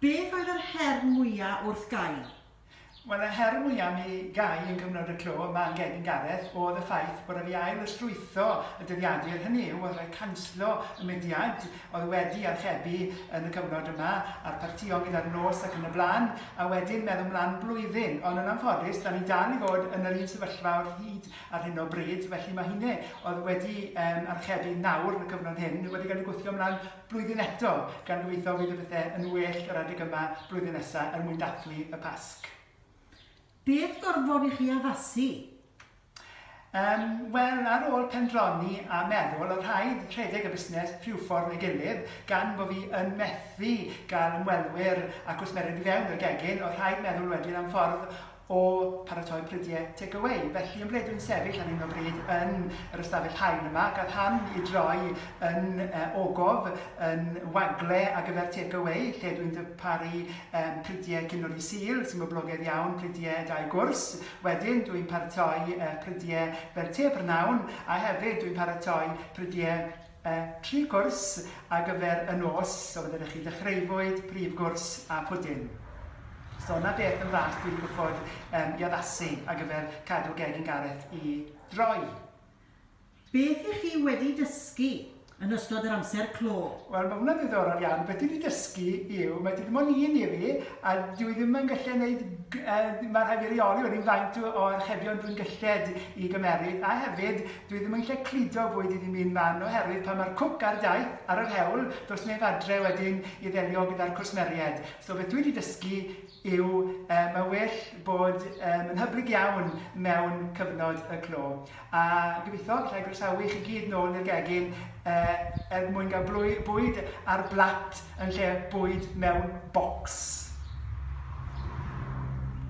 Beth oedd yr her mwya wrth Guy? Wel y her mwya am i Guy yn cyfnod y clo yma yn gefn Gareth oedd y ffaith bod e wedi ail ysrwytho y dyddiadur, hynny yw oedd rhaid canslo y mudiad oedd wedi archebu yn y cyfnod yma a'r partïon gyda'r nos ac yn y blaen a wedyn meddwl mlan blwyddyn ond yn anffodus da ni dal i fod yn yr un sefyllfa o'r hyd ar hyn o bryd felly mae hynny oedd wedi archebu nawr yn y cyfnod hyn wedi cael ei gwthio mlan blwyddyn eto, gan gobeithio bydd y pethe yn well yr adeg yma blwyddyn nesa er mwyn dathlu y Pasg. Beth gorfod i chi addasu? Um, Wel, ar ôl pendroni a meddwl, o rhaid rhedeg y busnes rhyw ffordd neu gilydd, gan bod fi yn methu gael ymwelwyr a gwsmeriaid i fewn i'r gegin, o rhaid meddwl wedyn am ffordd o paratoi prydie take away. Felly yn ble dwi'n sefyll ar hyn o bryd yn yr ystafell haen yma, gaf ham i droi yn uh, ogof, yn wagle ar gyfer take away, lle dwi'n dyparu um, prydie cynod i sil, sy'n boblogaidd iawn, prydie dau gwrs. Wedyn dwi'n paratoi uh, prydie fel te prynawn, a hefyd dwi'n paratoi prydie y tri cwrs ar gyfer y nos, so fydde da chi dechreuwyd, prif gwrs a pwdin. So na beth yn fach dwi wedi gwffod um, i addasu ar gyfer cadw gegin Gareth i droi. Beth ych chi wedi dysgu yn ystod yr amser clo? Wel, mae hwnna'n ddiddorol iawn. Beth dwi wedi dysgu yw, mae dim ond un i fi, a dwi ddim yn gallu gwneud, uh, mae rhaid i reoli wedyn faint o archebion dwi'n gylled i gymeryd, a hefyd Dwi ddim yn lle cludo fwyd i ddim un man oherwydd pan mae'r cwc ar daith ar yr hewl does neb adre wedyn i ddelio gyda'r cwsmeried. So beth dwi 'di dysgu yw yy mae well bod yym yn hyblyg iawn mewn cyfnod y clo. A gobeithio gallai groesawu chi gyd nôl i'r gegin yy er mwyn gael blwy- bwyd ar blat yn lle bwyd mewn bocs.